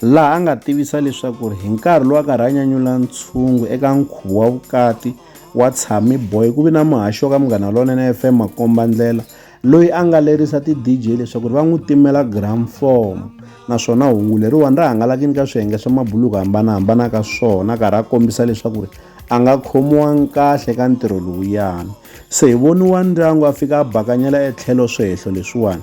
laha a nga tivisa leswaku hi nkarhi lowu a karhi a nyanyula ntshungu eka nkhuvo wa vukati wa tshami boy ku vi na muhaxi wa ka munghana lonene fm makombandlela loyi a nga lerisa ti-dj leswaku ri va n'wi timela gram form naswona hungu leriwani ri hangalakini ka swiyenge swa mabuluku hambanahambana ka swona karhi a kombisa leswaku ri a nga khomiwangi kahle ka ntirho lowuyani se hi voniwa ndyangu a fika a bakanyela etlhelo swehlo leswiwani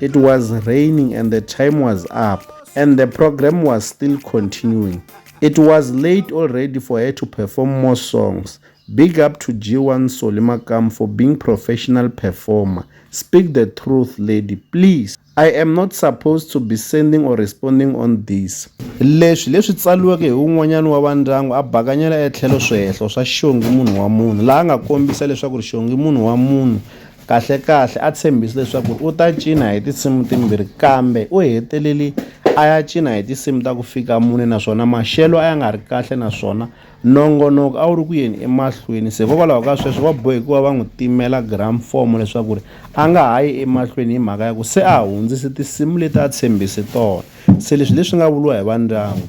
It was raining and the time was up and the program was still continuing. It was late already for her to perform more songs. Big up to G1 Solimakam for being professional performer. Speak the truth, lady, please. I am not supposed to be sending or responding on this. Leswi leswi tsaliweke hi un'wanyana wa vandyangu a bakanyela etlhelo swihehlo swa xongi munhu wa munhu laha a nga kombisa leswaku ri xongi munhu wa munhu Kahle-kahle a tshembise leswaku u ta cina hi tinsimu timbirhi kambe u heteleli a ya cina hi tinsimu ta ku fika mune naswona maxelo a ya nga ri kahle naswona nongonoko a wu ri ku yeni emahlweni se hikokwalaho ka sweswo va bohe ku va va n'wi timela gramfomo leswaku ri a nga ha yi emahlweni hi mhaka ya ku se a hundzise tinsimu leti a tshembise tona se leswi leswi nga vuriwa hi va ndyangu